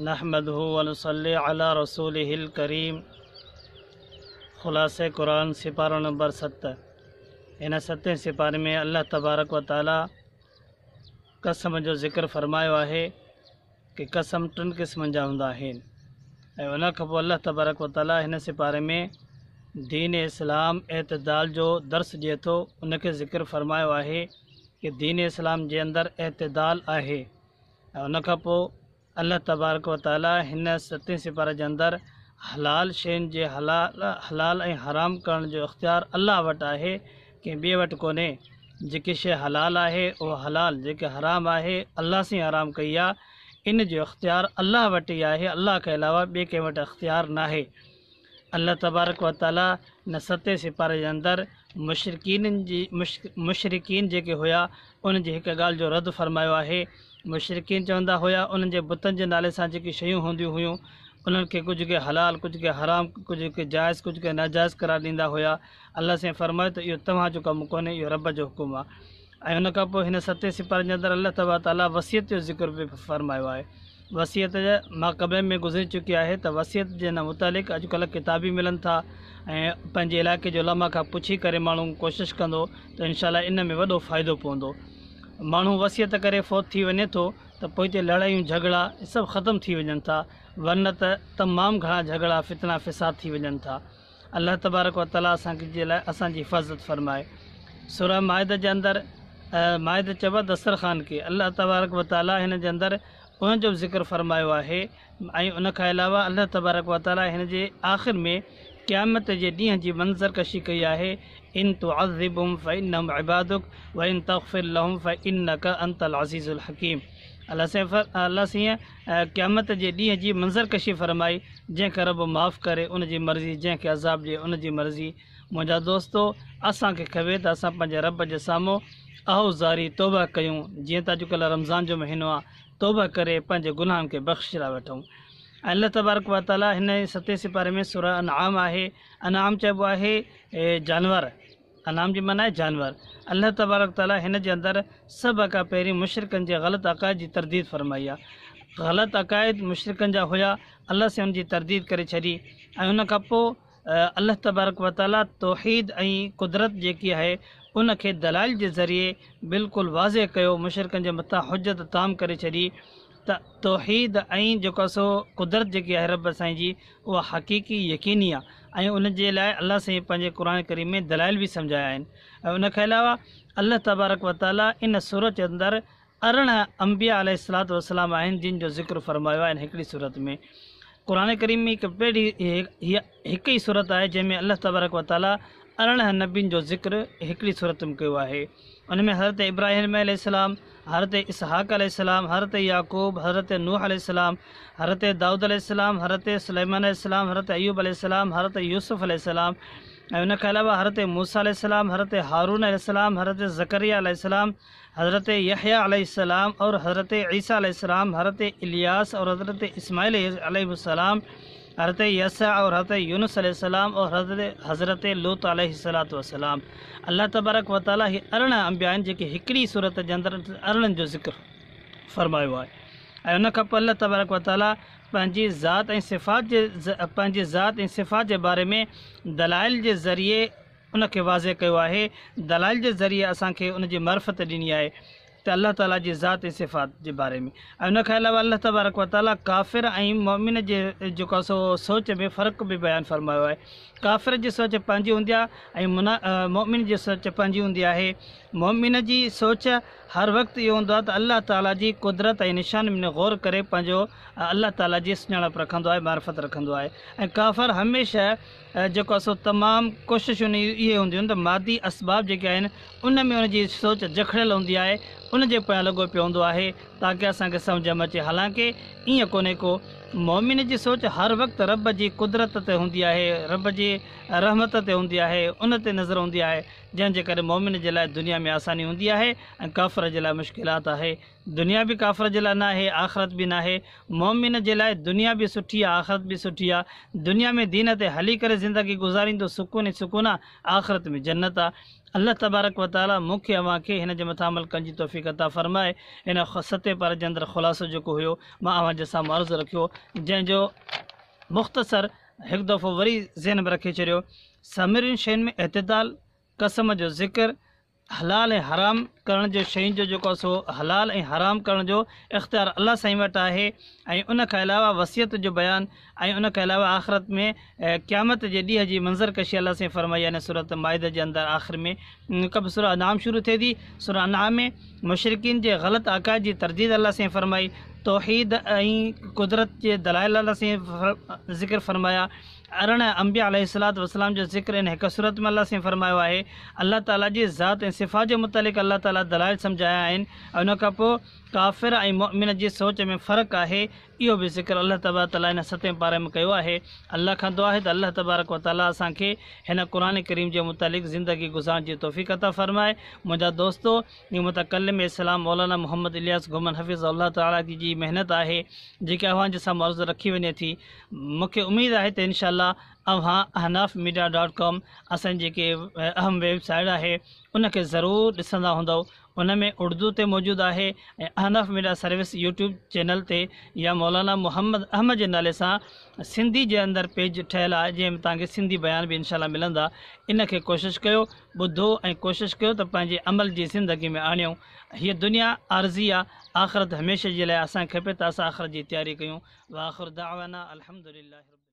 نحمده ونصلي علي رسوله الڪريم خلاصه قرآن سپارو نمبر ست ان ستين سپاري ۾ الله تبارڪ و تعالي قسم جو ذڪر فرمايو آهي ته قسم ٽن قسمن جا هوندا آهن ۽ ان کان پوء الله تبارڪ و تعالي هن سپاري ۾ دين اسلام اعتدال جو درس ڏئي ٿو ان کي ذڪر فرمايو آهي ڪي دين اسلام جي اندر اعتدال آهي ۽ ان کان پوء الله تبارڪ و تعالي هن ستين سپاره جي اندر حلال شين جي حلال حلال ۽ حرام ڪرڻ جو اختيار الله وٽ آهي ڪنهن ٻئي وٽ ڪونهي جيڪي شي حلال آهي اهو حلال جيڪي حرام آهي الله سين حرام ڪئي آهي ان جو اختيار الله وٽ ئي آهي الله کان علاوه ٻئي ڪنهن وٽ اختيار ناهي الله تبارڪ و تعاليٰ ان ستين سيپارن جي اندر مشرڪين جي مشرڪين جيڪي هيا انهن جي هڪ ڳالهه جو رد فرمايو آهي مشرڪين چوندا هيا انهن جي بتن جي نالي سان جيڪي شيون هونديون هيون انهن کي ڪجهه ڪي حلال ڪجهه ڪي حرام ڪجهه ڪي جائز ڪجهه ڪي ناجائز قرار ڏيندا هيا الله سائين فرمايو ته اهو توهان جو ڪم ڪونهي اهو رب جو حڪم آهي ۽ ان کان پوء هن ستين سپارن جي اندر الله تبارڪ وتعاليٰ وصيت جو ذڪر به فرمايو آهي. وصيت ما قبل ۾ گذري چڪي آهي ته وصيت جي ان متعلق اڄ ڪلهه ڪتاب به ملن ٿا ۽ پنهنجي علاقي جي علماء کان پڇي ڪري ماڻهو ڪوشش ڪندو ته انشاء الله ان ۾ وڏو فائدو پوندو. ماڻهو وصيت ڪري فوت ٿي وڃي ٿو ته پوء هتي لڙايون جهڳڙا سڀ ختم ٿي وڃن ٿا ورنه ته تمام گهڻا جهڳڙا فتنا فساد ٿي وڃن ٿا. الله تبارڪ و تعالي اسان کي جي لاء اسان جي حفاظت فرمائي سورة مائده جي اندر مائده چئبو آهي دسترخوان کي الله تبارڪ و تعالي هن جي اندر ان جو ذڪر فرمايو آهي ۽ ان کان علاوه الله تبارڪ و تعالي هن جي آخر ۾ قيامت جي ڏينهن جي منظر ڪشي ڪئي آهي ان تعذبهم فانهم عبادك وان تغفر لهم فانك انت العزيز الحكيم الله سين الله سين ۽ قيامت جي ڏينهن جي منظر ڪشي فرمائي، جنهن کي رب معاف ڪري ان جي مرضي، جنهن کي عذاب ڏئي ان جي مرضي. منهنجا دوستو! اسان کي کپي ته اسان پنهنجي رب جي سامهون اهو زاري توبه ڪيون، جيئن ته اڄڪلهه رمضان جو مهينو آ، توبه ڪري پنهنجي گناهن کي بخشجرا وٺون. ۽ الله تبارڪ و تعاليٰ هن ستين سپاري ۾ سوره انعام آهي، انعام چئبو آهي جانور. انعام جي معنيٰ آهي جانور. الله تبارڪ تعاليٰ هن جي اندر سڀ کان پهرين مشرڪن جي غلط عقائد جي ترديد فرمائي آهي. غلط عقائد مشرڪن جا هيا، الله سائين ان جي ترديد ڪري ڇڏي ۽ ان کان پوء الله تبارڪ و تعاليٰ توحيد ۽ قدرت جيڪي آهي ان کي دلائل جي ذريعي بلڪل واضح ڪيو، مشرڪن جي مٿان حجت تام ڪري ڇڏي ته توحيد ۽ جيڪو سو قدرت جيڪي آهي رب سائين جي اها حقيقي يقيني آهي ۽ ان جي لاء الله سائين پنهنجي قرآن ڪريم ۾ دلائل به سمجهايا آهن ۽ ان کان علاوه الله تبارڪ و تعالي ان سورت جي اندر ارڙهن انبياء عليه الصلات والسلام آهن جن جو ذڪر فرمايو آهي ان هڪڙي سورت ۾ قرآن ڪريم ۾ هڪ پهري هيء هڪ ئي سورت آهي جنهن ۾ الله تبارڪ و تعالي ارڙهن نبين جو ذڪر هڪڙي سورت ۾ ڪيو آهي. ان ۾ حضرت ابراهيم عليه السلام، حضرت اسحاق عليه السلام، حضرت يعقوب، حضرت نوح عليه السلام، حضرت دائود عليه السلام، حضرت سليمان عليه السلام، حضرت ايوب عليه السلام، حضرت يوسف عليه السلام ۽ ان کان علاوه حضرت موسيٰ عليه السلام، حضرت هارون عليه السلام، حضرت زڪريا عليه السلام، حضرت يحيٰ عليه السلام اور حضرت عيسيٰ عليه السلام، حضرت الياس اور حضرت اسماعيل عليه السلام، حضرت يسع اور حضرت يونس عليه السلام اور حضرت حضرت لوط عليه الصلوة والسلام. الله تبارڪ وتعاليٰ اهي ارڙهن انبياء آهن جيڪي هڪڙي ئي سورت جي اندر ارڙهن جو ذڪر فرمايو آهي ۽ ان کان پوء الله تبارڪ وتعاليٰ پنهنجي ذات ۽ صفات جي پنهنجي ذات ۽ صفات جي باري ۾ دلائل جي ذريعي ان کي واضح ڪيو آهي، دلائل جي ذريعي اسان کي ان جي معرفت ڏني آهي ته الله تعالي جي ذات ۽ صفات جي باري ۾ ۽ ان کان علاوه الله تبارڪ و تعالي ڪافر ۽ مؤمن جي جيڪو سو سوچ ۾ فرق به بيان فرمايو آهي ڪافر جي سوچ پنهنجي هوندي آهي ۽ منا مؤمن جي سوچ پنهنجي هوندي آهي مؤمن جي سوچ هر وقت اهو هوندو آهي ته الله تعالي جي قدرت ۽ نشان ۾ غور ڪري پنهنجو الله تعالي جي سڃاڻپ رکندو آهي معرفت رکندو آهي ۽ ڪافر هميشه جيڪو آهي سو تمام ڪوششون اهي هونديون آهن ته مادي اسباب جيڪي آهن ان ۾ ان جي سوچ جکڙيل هوندي آهي ان جي پويان لڳو پيو هوندو آهي تاڪه اسان کي سمجهه ۾ اچي حالانڪه ائين ڪونهي ڪو مؤمن جي سوچ هر وقت رب جي قدرت تي هوندي آهي رب جي رحمت تي هوندي آهي ان تي نظر هوندي آهي جنهن جي ڪري مؤمن جي لاء دنيا ۾ آساني هوندي آهي ۽ ڪافر جي لاء مشڪلات آهي دنيا به ڪافر جي لاء ناهي آخرت به ناهي، مؤمن جي لاء دنيا به سٺي آ آخرت به سٺي آ، دنيا ۾ دين تي هلي ڪري زندگي گذاريندو سڪون ئي سڪون آ، آخرت ۾ جنت آ. الله تبارڪ و تعالي مون کي اوهان کي هن جي مٿان عمل ڪرڻ جي توفيق عطا فرمائي. هن ستين پاري جي اندر خلاصو جيڪو هيو مان اوهان جي سامهون عرض رکيو جنهن جو مختصر هڪ دفعو وري ذهن ۾ رکي ڇڏيو سامرين شين ۾ اعتدال، قسم جو ذڪر، حلال ۽ حرام ڪرڻ جو شين جو جيڪو آهي سو حلال ۽ حرام ڪرڻ جو اختيار الله سائين وٽ آهي ۽ ان کان علاوه وصيت جو بيان ۽ ان کان علاوه آخرت ۾ قيامت جي ڏينهن جي منظر ڪشي الله سائين فرمائي يعني سورت مائده جي اندر آخر ۾ ڪب سورا انعام شروع ٿئي ٿي سورا انعام ۾ مشرقين جي غلط عقائد جي ترديد الله سائين فرمائي توحيد ۽ قدرت جي دلائل الله سائين ذڪر فرمايا ارڙهن، انبياء عليه الصلوة والسلام جو ذڪر ان هڪ سورت ۾ الله سائين فرمايو آهي. الله تعالي جي ذات ۽ صفات جي متعلق الله تعالي دلائل سمجهايا آهن ۽ ان کان پوء ڪافر ۽ مؤمن جي سوچ ۾ فرق آهي، اهو به ذڪر الله تبارڪ وتعالي هن ستين پاري ۾ ڪيو آهي. الله کان دعا آهي ته الله تبارڪ وتعالي اسان کي هن قرآن ڪريم جي متعلق زندگي گذارڻ جي توفيق عطا فرمائي. منهنجا دوستو! هي متڪلم اسلام مولانا محمد الياس گهمڻ حفظه الله تعالي جي جي محنت آهي جيڪا اوهان جي سامهون عرض رکي وڃي ٿي. مونکي اميد آهي ته انشاء الله اوهان احناف ميڊيا ڊاٽ ڪام اسان جي جيڪي اهم ويب سائيڊ آهي ان کي ضرور ڏسندا هوندؤ ان ۾ اڙدو تي موجود آهي ۽ Ahnaf media service YouTube channel تي يا مولانا محمد احمد جي نالي سان سنڌي جي اندر پيج ٺهيل آهي جنهن ۾ توهان کي سنڌي بيان به انشاء الله ملندا ان کي ڪوشش ڪيو ٻڌو ۽ ڪوشش ڪيو ته پنهنجي عمل جي زندگي ۾ آڻيو هيء دنيا عارضي آ، آخرت هميشه جي لاء آ، اسان کي کپي ته اسان آخرت جي تياري ڪيون، واخر دعوانا الحمدلله رب العالمين.